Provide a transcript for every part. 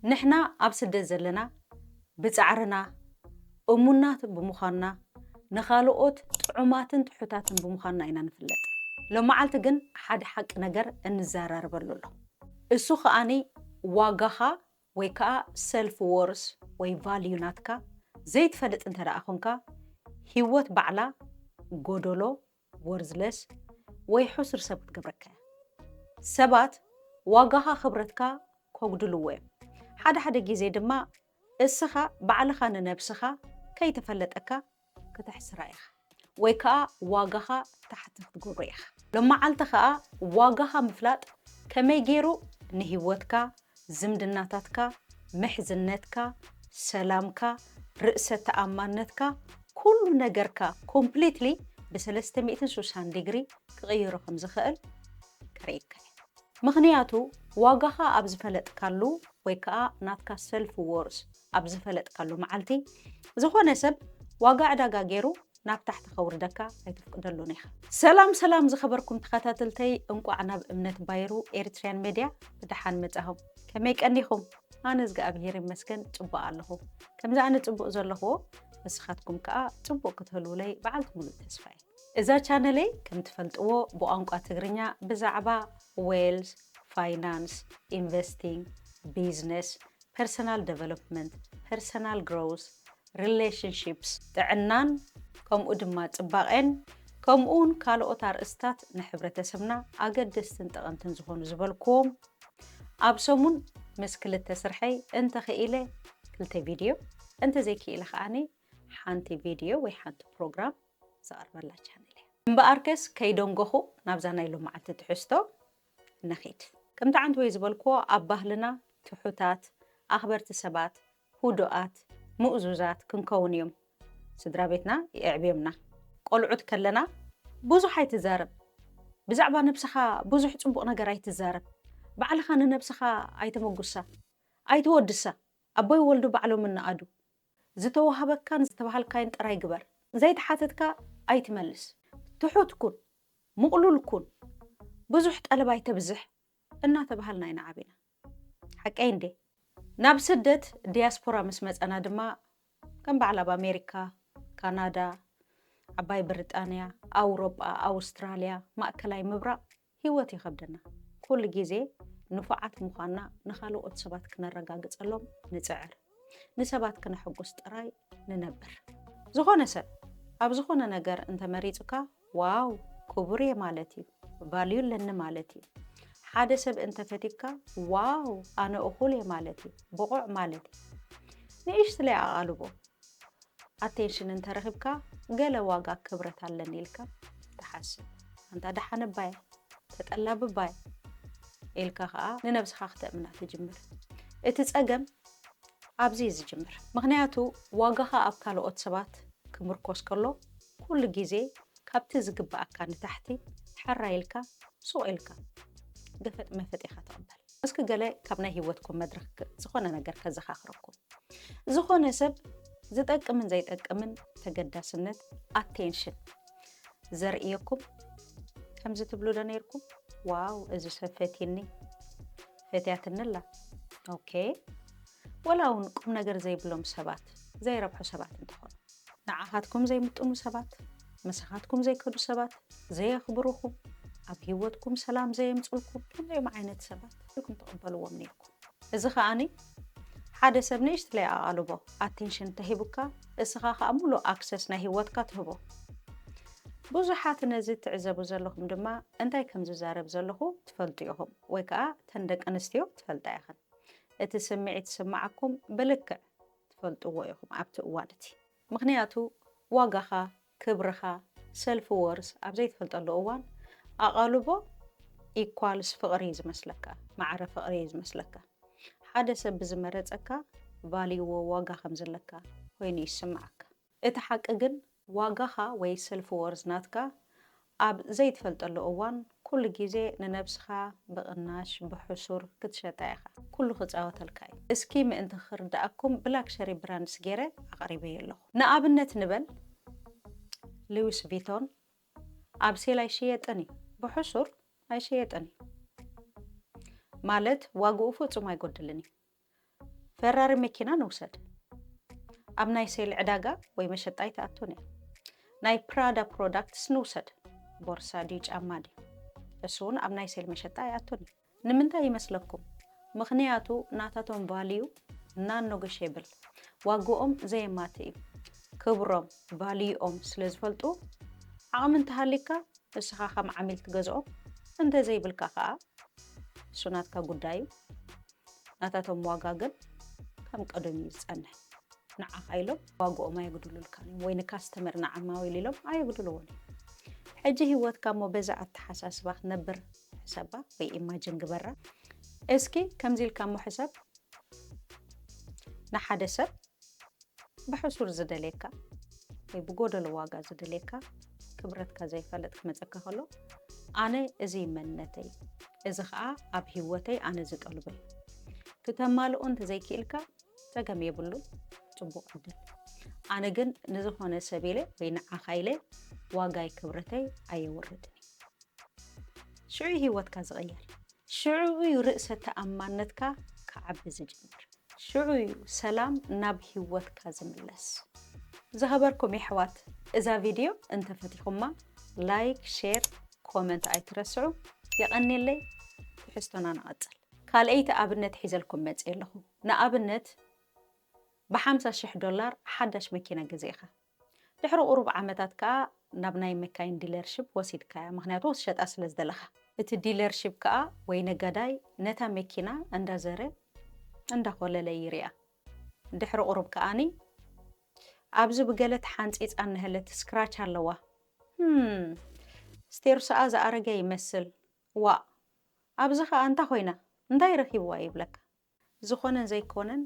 ንሕና ኣብ ስደት ዘለና ብጻዕርና እሙናት ብምዃንና ንኻልኦት ጥዑማትን ትሑታትን ብምዃንና ኢና ንፍለጥ። ሎማዓልቲ ግን ሓደ ሓቂ ነገር እንዘራረበሉ ኣሎ። እሱ ኸኣ ዋጋኻ ወይ ከኣ ሰልፍ ዎርዝ ወይ ቫልዩ ናትካ ዘይትፈልጥ እንተደኣ ኾንካ ህይወት ባዕላ ጎዶሎ Worthless ወይ ሕሱር ሰብ ክትገብረካ እያ። ሰባት ዋጋኻ ክብረትካ ከጉድልዎ እዮም። ሓደ ሓደ ግዜ ድማ እስኻ ባዕልኻ ንነብስኻ ከይተፈለጠካ ክተሕስራ ኢኻ ወይ ከኣ ዋጋኻ ታሕቲ ክትገብሮ ኢኻ። ሎማዓልቲ ከኣ ዋጋኻ ምፍላጥ ከመይ ጌሩ ንሂወትካ፣ ዝምድናታትካ፣ ምሕዝነትካ፣ ሰላምካ፣ ርእሰ ተኣማንነትካ፣ ኩሉ ነገርካ ኮምፕሊትሊ ብሰለስተ ሚእትን ሱሳን ዲግሪ ክቕይሮ ከም ዝኸእል ከርእየካ እዩ። ምኽንያቱ ዋጋኻ ኣብ ዝፈለጥካሉ ወይ ከኣ ናትካ ሰልፍ ዎርዝ ኣብ ዝፈለጥካሉ መዓልቲ ዝኾነ ሰብ ዋጋ ዕዳጋ ጌሩ ናብ ታሕቲ ከውርደካ ኣይትፍቅደሉን ኢኻ። ሰላም ሰላም ዝኸበርኩም ተኸታተልተይ እንቋዕ ናብ እምነት ባይሩ ኤሪትሪያን ሜድያ ብደሓን መጻኹም። ከመይ ቀኒኹም? ኣነ እዝግኣብሄር ይመስገን ጽቡቕ ኣለኹ። ከምዚ ኣነ ጽቡቕ ዘለኹዎ ንስኻትኩም ከኣ ጽቡቕ ክትህልዉለይ በዓልቲ ምሉእ ተስፋ እየ። እዛ ቻነለይ ከም ትፈልጥዎ ብቋንቋ ትግርኛ ብዛዕባ ዌልዝ፣ ፋይናንስ፣ ኢንቨስቲንግ፣ ቢዝነስ፣ ፐርሰናል ደቨሎፕመንት፣ ፐርሰናል ግሮውዝ፣ Relationships፣ ጥዕናን ከምኡ ድማ ጽባቄን ከምኡውን ካልኦት ኣርእስታት ንሕብረተሰብና ኣገደስትን ጠቐምትን ዝኾኑ ዝበልኩዎም ኣብ ሰሙን ምስ ክልተ ስርሐይ እንተ ኽኢለ ክልተ ቪድዮ እንተ ዘይክኢለ ከኣኒ ሓንቲ ቪድዮ ወይ ሓንቲ ፕሮግራም ዘቐርበላ ቻነል እያ። እምበኣርከስ ከይደንጎኹ ናብዛ ናይ ሎምዓልቲ ትሕዝቶ ንኺድ። ከምቲ ዓንተወይ ዝበልኩዎ ኣብ ባህልና ትሑታት፣ ኣኽበርቲ ሰባት፣ ህዱኣት፣ ምእዙዛት ክንከውን እዮም ስድራ ቤትና የዕብዮምና። ቆልዑት ከለና ብዙሕ ኣይትዛረብ፣ ብዛዕባ ነብስኻ ብዙሕ ጽቡቕ ነገር ኣይትዛረብ፣ ባዕልኻ ንነብስኻ ኣይተመጉሳ፣ ኣይተወድሳ፣ ኣቦይ ወልዱ ባዕሎም እንኣዱ፣ ዝተዋህበካን ዝተባሃልካዮን ጥራይ ግበር፣ ዘይተሓተትካ ኣይትመልስ፣ ትሑት ኩን፣ ምቕሉል ኩን፣ ብዙሕ ጠለብ ኣይተብዝሕ እናተባሃልና ኢና ዓቢና። ሓቀይ እንድየ። ናብ ስደት፣ ዲያስፖራ፣ ምስ መጸና ድማ ከም በዓል ኣብ ኣሜሪካ፣ ካናዳ፣ ዓባይ ብሪጣንያ፣ ኣውሮጳ፣ ኣውስትራልያ፣ ማእከላይ ምብራቕ ህይወት ይኸብደና። ኩሉ ግዜ ንፉዓት ምዃንና ንኻልኦት ሰባት ክነረጋግጸሎም ንጽዕር። ንሰባት ክነሕጉስ ጥራይ ንነብር። ዝኾነ ሰብ ኣብ ዝኾነ ነገር እንተ መሪጹካ ዋው ክቡር እየ ማለት እዩ ቫልዩ ኣለኒ ማለት እዩ ሓደ ሰብ እንተፈቲካ ዋው ኣነ እኹል እየ ማለት እዩ ብቑዕ ማለት እዩ ንእሽትለይ ኣቓልቦ ኣቴንሽን እንተረኺብካ ገለ ዋጋ ክብረት ኣለኒ ኢልካ ትሓስብ ኣንታ ደሓን እባ እየ ተጠላቢ እባ እየ ኢልካ ከዓ ንነብስኻ ክተእምና ትጅምር እቲ ፀገም ኣብዚ እዩ ዝጅምር ምክንያቱ ዋጋኻ ኣብ ካልኦት ሰባት ክምርኮስ ከሎ ኩሉ ግዜ ካብቲ ዝግበኣካ ንታሕቲ ሐራይ ኢልካ ሱቕ ኢልካ ገፈጥ መፈጥ ኢኻ ትቕበል። እስኪ ገለ ካብ ናይ ሂወትኩም መድረኽ ዝኾነ ነገር ከዘኻኽረኩም። ዝኾነ ሰብ ዝጠቅምን ዘይጠቅምን ተገዳስነት፣ Attention፣ ዘርእየኩም ከምዚ ትብሉ ዶ ነይርኩም? ዋው እዚ ሰብ ፈትይኒ፣ ፈትያትኒ ኣላ። ኦኬ። ወላ እውን ቁም ነገር ዘይብሎም ሰባት፣ ዘይረብሑ ሰባት እንተኾኑ። ንዓኻትኩም ዘይምጥኑ ሰባት፣ ምሳኻትኩም ዘይከዱ ሰባት፣ ዘየኽብሩኹም፣ ኣብ ህይወትኩም ሰላም ዘየምጽልኩም ከምዚኦም ዓይነት ሰባት ኢኹም ትቕበልዎም ኔርኩም። እዚ ኸኣኒ ሓደ ሰብ ንእሽትለይ ኣቓልቦ፣ ኣቲንሽን፣ ተሂቡካ እስኻ ኸኣ ምሉእ ኣክሰስ ናይ ህይወትካ ትህቦ። ብዙሓት ነዚ እትዕዘቡ ዘለኹም ድማ እንታይ ከም ዝዛረብ ዘለኹ ትፈልጡ ኢኹም ወይ ከኣ እተን ደቂ ኣንስትዮ ትፈልጣ ኢኽን። እቲ ስምዒት ዝስምዓኩም ብልክዕ ትፈልጥዎ ኢኹም ኣብቲ እዋን እቲ። ምኽንያቱ ዋጋኻ፣ ክብርኻ፣ ሰልፍ ዎርዝ፣ ኣብ ዘይትፈልጠሉ እዋን ኣቓልቦ ኢኳልስ ፍቕሪ እዩ ዝመስለካ፣ ማዕረ ፍቕሪ እዩ ዝመስለካ። ሓደ ሰብ ብዝመረጸካ ቫልዩዎ፣ ዋጋ፣ ከምዘለካ ኮይኑ እዩ ዝስምዓካ። እቲ ሓቂ ግን ዋጋኻ ወይ ሰልፍ ዎርዝ ናትካ ኣብ ዘይትፈልጠሉ እዋን ኩሉ ግዜ ንነብስኻ ብቕናሽ ብሕሱር ክትሸጣ ኢኻ። ኩሉ ክጻወተልካ እዩ። እስኪ ምእንቲ ክርድኣኩም ብላክሸሪ ብራንድስ ጌረ ኣቕሪበዮ ኣለኹ። ንኣብነት ንበል ሊዊስ ቪቶን ኣብ ሴል ኣይሽየጥን እዩ። ብሕሱር ኣይሽየጥን እዩ። ማለት ዋግኡ ፍጹም ኣይጎድልን እዩ። ፈራሪ መኪና ንውሰድ። ኣብ ናይ ሴል ዕዳጋ ወይ መሸጣ ኣይትኣቱን እያ። ናይ ፕራዳ ፕሮዳክትስ ንውሰድ። ቦርሳ ድዩ ጫማ ድዩ? እሱ እውን ኣብ ናይ ሴል መሸጣ ኣይኣቱን እዩ። ንምንታይ ይመስለኩም? ምኽንያቱ ናታቶም ቫልዩ ናን ኖገሼብል፣ ዋግኦም ዘየማትእ እዩ። ክብሮም፣ ቫልዩኦም፣ ስለ ዝፈልጡ ዓቕሚ እንተሃልዩካ ንስኻ ከም ዓሚል ትገዝኦም፣ እንተዘይብልካ ከኣ እሱ ናትካ ጉዳይ እዩ። ናታቶም ዋጋ ግን ከም ቀደም እዩ ዝፀንሕ። ንዓኻ ኢሎም ዋግኦም ኣየጉድሉልካን እዮም ወይ ንካስተመር ንዓማዊል ኢሎም ኣየጉድልዎን እዮም። ሕጂ ህይወትካ እሞ በዛ ኣተሓሳስባ ክትነብር ሕሰባ ወይ ኢማጅን ግበራ። እስኪ ከምዚ ኢልካ እሞ ሕሰብ፣ ንሓደ ሰብ ብሕሱር ዝደልየካ ወይ ብጎደሎ ዋጋ ዝደልየካ ክብረትካ ዘይፈልጥ ክመጸካ ከሎ ኣነ እዚ እዩ መንነተይ እዚ ከኣ ኣብ ሂወተይ ኣነ ዝጠልቦ እዩ ክተማልኦ እንተዘይክኢልካ ጸገም የብሉን ጽቡቕ ዕድል ኣነ ግን ንዝኾነ ሰብ ኢለ ወይ ንዓኻ ኢለ ዋጋይ ክብረተይ ኣየውርድን እዩ ሽዑ ሂወትካ ዝቕየር ሽዑ እዩ ርእሰ ተኣማነትካ ክዓቢ ዝጅምር። ሽዑ እዩ ሰላም ናብ ሂወትካ ዝምለስ። ዝኸበርኩም የሕዋት እዛ ቪድዮ እንተፈቲኹማ ላይክ ሼር ኮመንት ኣይትረስዑ የቐኔለይ ትሕዝቶና ንቐጽል። ካልኣይቲ ኣብነት ሒዘልኩም መጽየ ኣለኹ ንኣብነት ብሓምሳ ሽሕ ዶላር ሓዳሽ መኪና ገዚእኻ ድሕሪ ቁሩብ ዓመታት ከኣ ናብ ናይ መካይን ዲለርሺፕ ወሲድካያ ምኽንያቱ ክትሸጣ ስለ ዝደለኻ። እቲ ዲለርሺፕ ከኣ ወይ ነጋዳይ ነታ መኪና እንዳ ዘረ እንዳ ኮለለ ይሪኣ ድሕሪ ቁሩብ ከኣኒ ኣብዚ ብገለ ተሓንጺጻ እነሀለት ስክራች ኣለዋ ህም ስቴርሶኣ ዝኣረገ ይመስል ዋእ ኣብዚ ከኣ እንታ ኮይና እንታይ ረኪብዋ ይብለካ ዝኾነን ዘይኮነን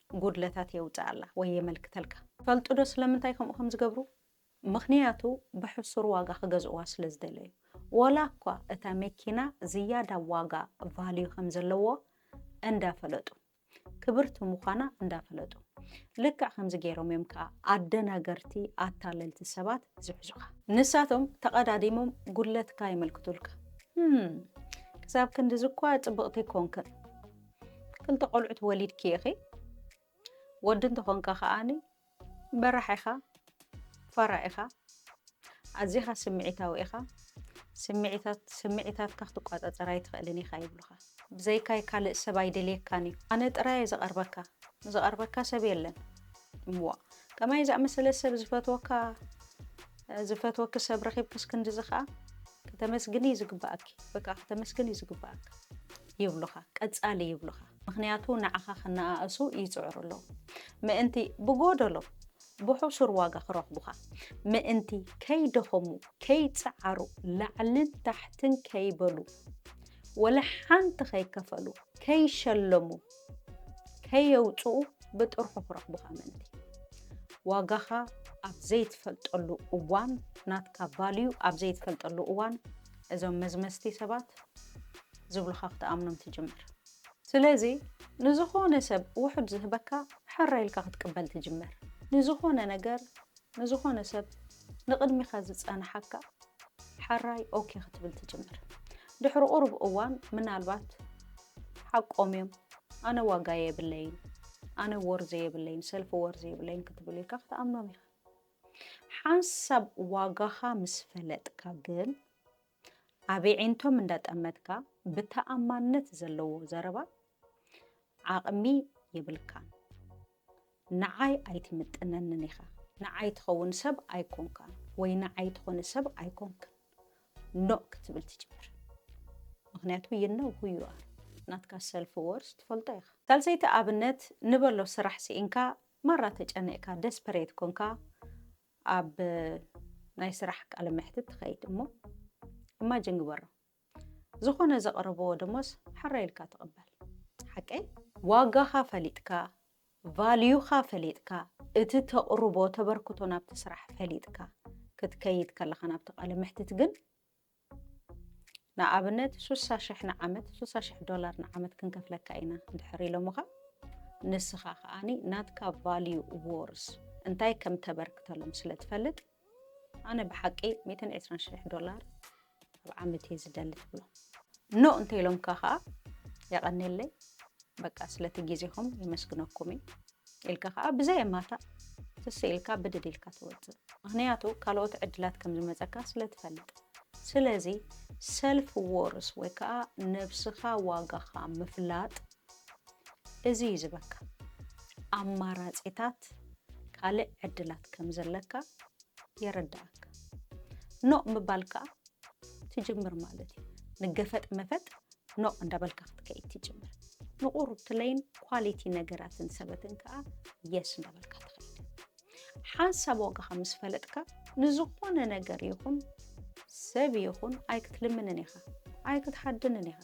ጉድለታት የውጽኣላ ወይ የመልክተልካ። ትፈልጡዶ ስለምንታይ ከምኡ ከም ዝገብሩ? ምኽንያቱ ብሕሱር ዋጋ ክገዝእዋ ስለ ዝደለዩ። ወላኳ እታ መኪና ዝያዳ ዋጋ፣ Value፣ ከም ዘለዎ እንዳፈለጡ። ክብርቲ ምዃና እንዳፈለጡ። ልክዕ ከምዚ ገይሮም እዮም ከኣ ኣደናገርቲ ኣታለልቲ ሰባት ዝሕዙኻ። ንሳቶም ተቐዳዲሞም ጉድለትካ የመልክቱልካ። ህም ክሳብ ክንድዚ እኳ ጽብቕቲ ኮንክን። ክልተ ቆልዑት ወሊድኪ ኢኺ። ወዲ እንተኾንካ ከኣ በራሕ ኢኻ። ፋራ ኢኻ፣ ኣዚኻ ስምዒታዊ ኢኻ፣ ስምዒታት ስምዒታትካ ክትቋጻጸር ኣይትኽእልን ኢኻ ይብሉኻ። ብዘይካይ ካልእ ሰብ ኣይደልየካን እዩ፣ ኣነ ጥራይ እየ ዝቐርበካ፣ ዝቐርበካ ሰብ የለን። እምዋ ከማይ ዝኣመሰለ ሰብ ዝፈትወካ ዝፈትወኪ ሰብ ረኺብክስ ክንድዚ ኸኣ ከተመስግኒ እዩ ዝግባኣኪ፣ ወይ ከኣ ከተመስግን እዩ ዝግባኣካ ይብሉኻ፣ ቀጻሊ ይብሉኻ። ምኽንያቱ ንዓኻ ክነኣእሱ ይጽዕሩ ኣለዉ። ምእንቲ ብጎደሎ ብሑሱር ዋጋ ክረኽቡኻ ምእንቲ ከይደኸሙ፣ ከይጸዓሩ፣ ላዕልን ታሕትን ከይበሉ፣ ወላ ሓንቲ ከይከፈሉ፣ ከይሸለሙ፣ ከየውጽኡ ብጥርሑ ክረኽቡኻ ምእንቲ። ዋጋኻ ኣብ ዘይትፈልጠሉ እዋን፣ ናትካ ቫልዩ ኣብ ዘይትፈልጠሉ እዋን እዞም መዝመዝቲ ሰባት ዝብሉኻ ክትኣምኖም ትጅምር። ስለዚ ንዝኾነ ሰብ ውሑድ ዝህበካ ሕራይ ኢልካ ክትቅበል ትጅምር። ንዝኾነ ነገር ንዝኾነ ሰብ ንቕድሚኻ ዝጸንሓካ ሕራይ ኦኬ ክትብል ትጅምር። ድሕሪ ቁሩብ እዋን ምናልባት ሓቆም እዮም ኣነ ዋጋ የብለይን ኣነ ወርዚ የብለይን ሰልፊ ወርዚ የብለይን ክትብል ኢልካ ክትኣምኖም ኢኻ። ሓንሳብ ዋጋኻ ምስ ፈለጥካ ግን፣ ኣብ የዒንቶም እንዳጠመትካ ብተኣማንነት ዘለዎ ዘረባ ዓቕሚ የብልካን። ንዓይ ኣይትምጥነንን ኢኻ። ንዓይ ትኸውን ሰብ ኣይኮንካን ወይ ንዓይ ትኾኒ ሰብ ኣይኮንክን ኖእ ክትብል ትጅምር። ምኽንያቱ you know who you are ናትካ ሰልፍ ወርዝ ትፈልጦ ኢኻ። ሳልሰይቲ ኣብነት ንበሎ ስራሕ ስኢንካ ማራ ተጨኒቕካ ደስፐሬት ኮንካ ኣብ ናይ ስራሕ ቃለ መሕትት ትኸይድ እሞ ኢማጅን ግበሮ ዝኾነ ዘቕርብዎ ደሞዝ ሕራይ ኢልካ ትቕበል ሓቀይ? ዋጋኻ ፈሊጥካ ቫልዩኻ ፈሊጥካ እቲ ተቕርቦ ተበርክቶ ናብቲ ስራሕ ፈሊጥካ ክትከይድ ከለኻ ናብቲ ቃለ መሕትት ግን ንኣብነት ሱሳ ሽሕ ንዓመት ሱሳ ሽሕ ዶላር ንዓመት ክንከፍለካ ኢና እንድሕር ኢሎምኻ ንስኻ ከዓኒ ናትካ ቫልዩ ዎርስ እንታይ ከም ተበርክተሎም ስለ ትፈልጥ ኣነ ብሓቂ ሚእትን ዕስራን ሽሕ ዶላር ኣብ ዓመት እየ ዝደሊ ትብሎ ኖ እንተ ኢሎምካ ከዓ የቐኔለይ በቃ ስለቲ ግዜኹም የመስግነኩም እዩ ኢልካ ከኣ ብዘየማታእ ስስ ኢልካ ብድድ ኢልካ ትወጽእ ምክንያቱ ካልኦት ዕድላት ከም ዝመጸካ ስለ ትፈልጥ ስለዚ ሰልፍ ዎርስ ወይ ከኣ ነብስካ ዋጋካ ምፍላጥ እዚ እዩ ዝበካ ኣማራጺታት ካልእ ዕድላት ከም ዘለካ የረድኣካ ኖእ ምባል ከኣ ትጅምር ማለት እዩ ንገፈጥ መፈጥ ኖቕ እንዳበልካ ክትከይድ ትጅምር። ንቑርብትለይን ኳሊቲ ነገራትን ሰበትን ከዓ የስ እንዳበልካ ትኸይድ። ሓንሳብ ዋጋኻ ምስ ፈለጥካ ንዝኾነ ነገር ይኹን ሰብ ይኹን ኣይክትልምንን ኢኻ፣ ኣይክትሓድንን ኢኻ፣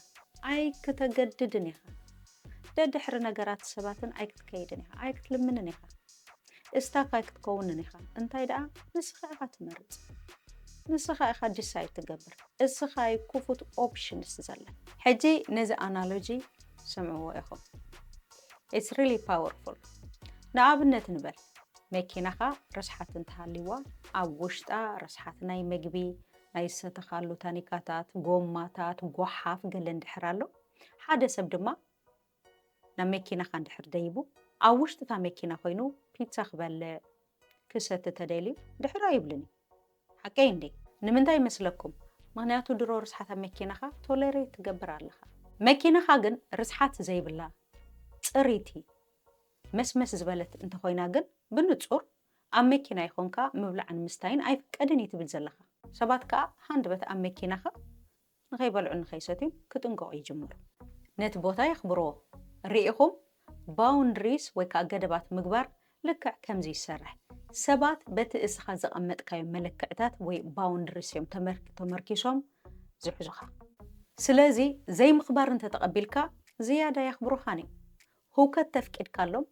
ኣይክተገድድን ኢኻ፣ ደድሕሪ ነገራት ሰባትን ኣይክትከይድን ኢኻ፣ ኣይክትልምንን ኢኻ። እስታፋይ ክትከውንን ኢኻ እንታይ ደኣ ንስኻ ኢኻ ትመርጽ ንስኻ ኢኻ ዲሳይድ ትገብር እስኻ ዩ ክፉት ኦፕሽንስ ዘለ ሕጂ ነዚ ኣናሎጂ ስምዕዎ ኢኹም ኢትስ ሪሊ ፓወርፉል ንኣብነት ንበል መኪናኻ ርስሓት እንተሃልይዋ ኣብ ውሽጣ ርስሓት ናይ መግቢ ናይ ዝሰተኻሉ ታኒካታት ጎማታት ጎሓፍ ገለ እንድሕር ኣሎ ሓደ ሰብ ድማ ናብ መኪናኻ እንድሕር ደይቡ፣ ኣብ ውሽጢ እታ መኪና ኮይኑ ፒትሳ ክበልዕ፣ ክሰቲ ተደልዩ ድሕር ኣይብልን እዩ። ሓቀይ እንዴ? ንምንታይ ይመስለኩም? ምኽንያቱ ድሮ ርስሓት ኣብ መኪናኻ ቶለሬት ትገብር ኣለኻ። መኪናኻ ግን ርስሓት ዘይብላ፣ ጽሪቲ፣ መስመስ ዝበለት እንተኾይና ግን ብንጹር ኣብ መኪናይ ኾንካ ምብላዕን ምስታይን ኣይፍቀድን እዩ ትብል ዘለኻ። ሰባት ከኣ ሃንደበት ኣብ መኪናኻ ንኸይበልዑን ንኸይሰትዩን ክጥንቀቑ ይጅምሩ። ነቲ ቦታ የኽብርዎ። ርኢኹም? ባውንድሪስ ወይ ከኣ ገደባት ምግባር ልክዕ ከምዚ ይሰርሕ። ሰባት በቲ እስኻ ዘቐመጥካዮ መለክዕታት ወይ ባውንድሪስ እዮም ተመርኪሶም ዝሕዙኻ። ስለዚ ዘይምኽባር እንተ ተቐቢልካ ዝያዳ ኣየኽብሩኻን እዮም። ህውከት ተፍቂድካሎም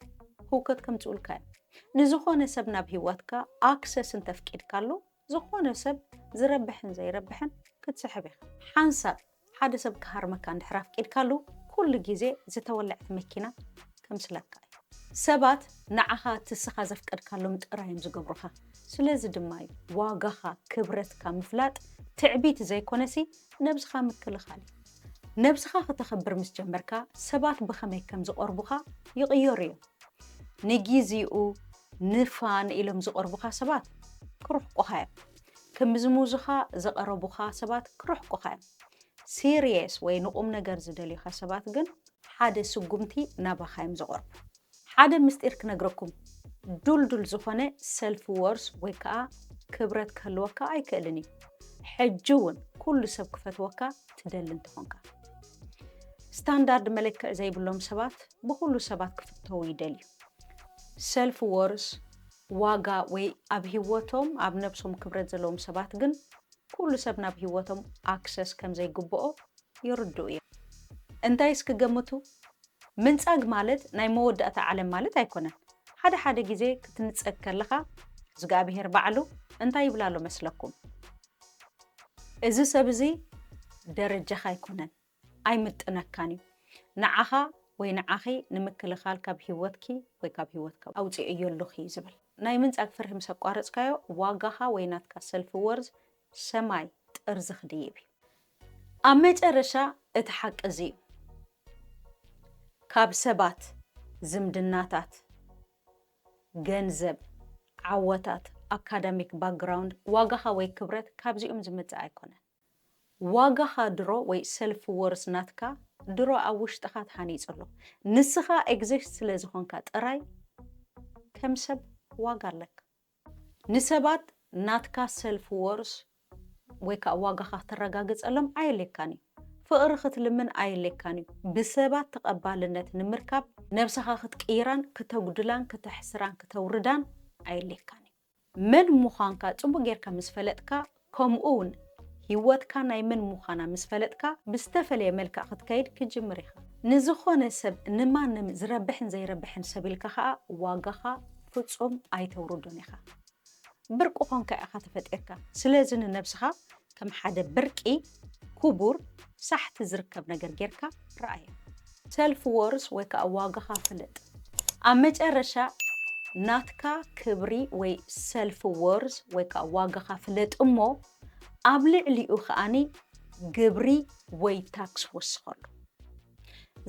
ህውከት ከምጽኡልካ እዮም። ንዝኾነ ሰብ ናብ ህይወትካ ኣክሰስ እንተ ኣፍቂድካሉ ዝኾነ ሰብ ዝረብሕን ዘይረብሕን ክትስሕብ ኢኻ። ሓንሳብ ሓደ ሰብ ክሃርመካ እንድሕር ኣፍቂድካሉ ኩሉ ግዜ ዝተወለዐት መኪና ከምስለካ እዩ። ሰባት ንዓኻ ትስኻ ዘፍቀድካሎም ጥራይ እዮም ዝገብሩኻ። ስለዚ ድማ እዩ ዋጋኻ ክብረትካ ምፍላጥ ትዕቢት ዘይኮነሲ ነብስኻ ምክልኻል እዩ። ነብስኻ ክተኽብር ምስ ጀመርካ ሰባት ብኸመይ ከም ዝቐርቡኻ ይቕየሩ እዮም። ንጊዚኡ ንፋን ኢሎም ዝቐርቡኻ ሰባት ክርሕቁኻ እዮም። ክምዝሙዙኻ ዝቐረቡኻ ሰባት ክርሕቁኻ እዮም። ሲርየስ ወይ ንቁምነገር ዝደልዩኻ ሰባት ግን ሓደ ስጉምቲ ናባኻ እዮም ዝቐርቡ። ሓደ ምስጢር ክነግረኩም፣ ዱልዱል ዝኾነ ሰልፍ ወርዝ ወይ ከኣ ክብረት ክህልወካ ኣይክእልን እዩ። ሕጂ እውን ኩሉ ሰብ ክፈትወካ ትደሊ እንተኾንካ። ስታንዳርድ መለክዒ ዘይብሎም ሰባት ብኹሉ ሰባት ክፍተዉ ይደልዩ። ሰልፍ ዎርዝ፣ ዋጋ፣ ወይ ኣብ ሂወቶም ኣብ ነብሶም ክብረት ዘለዎም ሰባት ግን ኩሉ ሰብ ናብ ሂወቶም ኣክሰስ ከምዘይግብኦ ይርድኡ እዮም። እንታይ እስኪ ገምቱ? ምንጻግ ማለት ናይ መወዳእታ ዓለም ማለት ኣይኮነን። ሓደ ሓደ ግዜ ክትንጸግ ከለኻ እዝግኣብሄር ባዕሉ እንታይ ይብል ኣሎ መስለኩም? እዚ ሰብ እዚ ደረጃኻ ኣይኮነን። ኣይምጥነካን እዩ ንዓኻ ወይ ንዓኺ ንምክልኻል ካብ ሂወትኪ ወይ ካብ ሂወትካ ኣውጺኤዮ ኣሎኺ ዝብል ናይ ምንጻግ ፍርሂ ምስ ኣቋረጽካዮ ዋጋኻ ወይ ናትካ ሰልፍ ወርዝ ሰማይ ጥርዚ ክድይብ እዩ። ኣብ መጨረሻ እቲ ሓቂ እዚ እዩ ካብ ሰባት ዝምድናታት ገንዘብ ዓወታት ኣካዳሚክ ባክግራውንድ ዋጋኻ ወይ ክብረት ካብዚኦም ዝመጽእ ኣይኮነን። ዋጋኻ ድሮ ወይ ሰልፍ ወርዝ ናትካ ድሮ ኣብ ውሽጥኻ ተሃኒጹ ኣሎ። ንስኻ ኤግዚስት ስለ ዝኾንካ ጥራይ ከም ሰብ ዋጋ ኣለካ። ንሰባት ናትካ ሰልፍ ወርዝ ወይ ከኣ ዋጋኻ ክተረጋግጸሎም ኣየድልየካን እዩ። ፍቕሪ ክትልምን ኣየድልየካን እዩ። ብሰባት ተቐባልነት ንምርካብ ነብሰኻ ክትቅይራን ክተጉድላን ክተሕስራን ክተውርዳን ኣየድልየካን እዩ። መን ምዃንካ ጽቡቕ ጌርካ ምስ ፈለጥካ፣ ከምኡውን ህይወትካ ናይ መን ምዃና ምስ ፈለጥካ፣ ብዝተፈለየ መልክዕ ክትከይድ ክትጅምር ኢኻ። ንዝኾነ ሰብ፣ ንማንም ዝረብሕን ዘይረብሕን ሰብ ኢልካ ኸኣ ዋጋኻ ፍጹም ኣይተውርዶን ኢኻ። ብርቂ ኰንካ ኢኻ ተፈጢርካ። ስለዚ ንነብስኻ ከም ሓደ ብርቂ፣ ኩቡር፣ ሳሕቲ ዝርከብ ነገር ጌርካ ረኣያ። ሰልፍ ዎርስ ወይ ከኣ ዋጋኻ ፍለጥ። ኣብ መጨረሻ ናትካ ክብሪ ወይ ሰልፍ ዎርስ ወይ ከኣ ዋጋኻ ፍለጥ እሞ ኣብ ልዕሊኡ ከኣ ግብሪ ወይ ታክስ ወስኸሉ።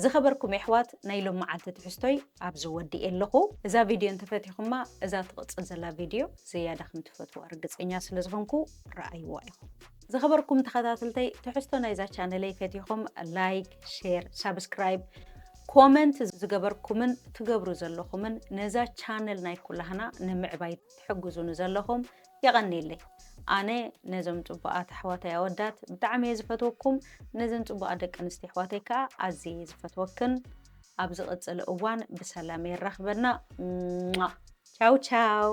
ዝኸበርኩም የሕዋት ናይ ሎም መዓልቲ ትሕዝቶይ ኣብዚ ወዲኤ ኣለኹ። እዛ ቪድዮ እንተፈቲኹማ እዛ ትቕጽል ዘላ ቪድዮ ዝያዳ ከም ትፈትዋ ርግጸኛ ስለ ዝኾንኩ ረኣይዋ ኢኹም። ዝኸበርኩም ተኸታትልተይ ትሕዝቶ ናይዛ ቻነለይ ፈቲኹም ላይክ፣ ሼር፣ ሳብስክራይብ፣ ኮመንት ዝገበርኩምን ትገብሩ ዘለኹምን ነዛ ቻነል ናይ ኩላህና ንምዕባይ ትሕግዙኒ ዘለኹም የቐኔለይ ኣነ ነዞም ጽቡቓት ኣሕዋተይ ኣወዳት ብጣዕሚ እየ ዝፈትወኩም ነዘን ጽቡቓት ደቂ ኣንስትዮ ኣሕዋተይ ከኣ ኣዝየ እየ ዝፈትወክን ኣብ ዝቕጽል እዋን ብሰላም የራኽበና ቻው ቻው